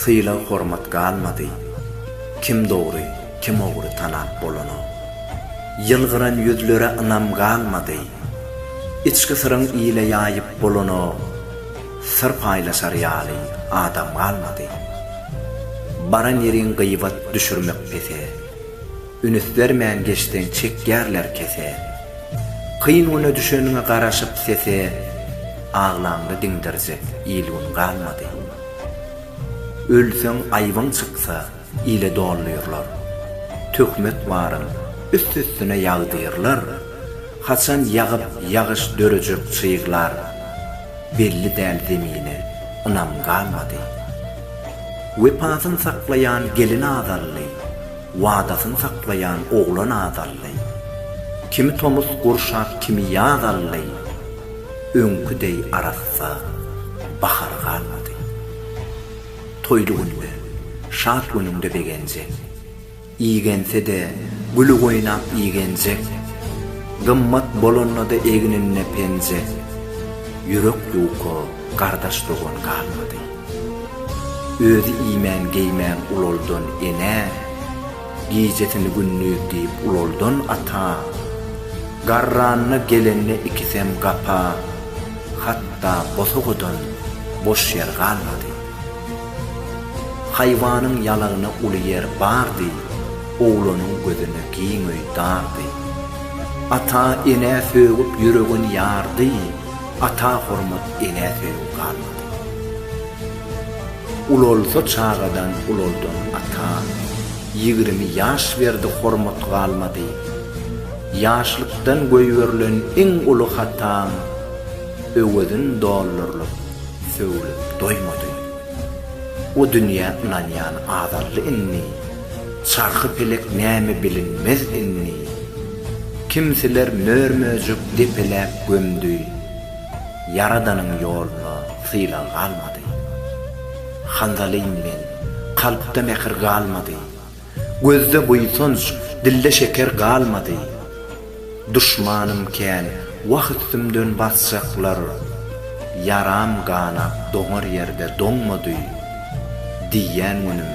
Sylag-hormat galmady. Kim dogry, kim ogry tanap bolanok. Ýylgyran ýüzlere ynam galmady. Içki syryň ile ýaýyp bolanok. Syr paýlaşar ýaly adam galmady. Baran ýeriň gyýbat düşürmek pese. Ünüs bermän geçseň çekýärler kese. Kyn güne düşeniňe garaşyp sese. Aglaňda diňdirjek il-gün galmady. Ölseň aýbyň çyksa, ile dolnyrlar. Töhmet baryn, üst-üstüne ýagdyrlar. Haçan ýagyp ýagyş dörejek çyglar. Belli däl zemine, ynam galmady. Wepasyn saklaýan gelin azaldy. Wadasyn saklaýan oglan azaldy. Kimi tomus gurşap kimi ýaz aldy. Öňki deý arassa bahar galmady. Toýly günde, şat günüňde begenjek. Igense-de, güli oýnap igenjek. Gymmat bolanda-da egninde penjek. Ýürek ýuka gardaş-dogan galmady. Özi iýmän-geýmän ulaldan enä. Gijesini gündiz diýip ulaldan ata, Garranyna gelende ikisem gapa, Hatda bosagadan boş ýer galmady. Haýwanyň ýalagyna uly ýer bardy, Oglanyň gözüne giň öý dardy. Ata, enä sögüp ýüregin ýardy, Ata hormat, enä söýgi galmady. Ulalsa çagadan ulaldan ata ýigrimi ýaş berdi hormat galmady ýaşlykdan goýberilen iň uly hataň öwezin dollarlyk sögülip doýmady o dünýä ynanýan azaldy indi çarhy pelek näme bilinmez indi kimsiler mör möjek depeläp gömdi ýaradanyň ýoluna Sylag galmady. Hanzalym men, kalpda mähir galmady. Gözde buýsanç, dilde şeker galmady. Duşmanym kän, wah üstümden basjaklar. Ýaram ganap doňar ýerde doňmady. Diýýän günüm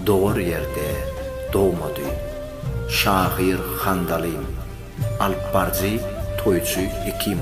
dogar ýerde dogmady. Şahyr Hanzalym Alyp baryjy, toýçy, hekim.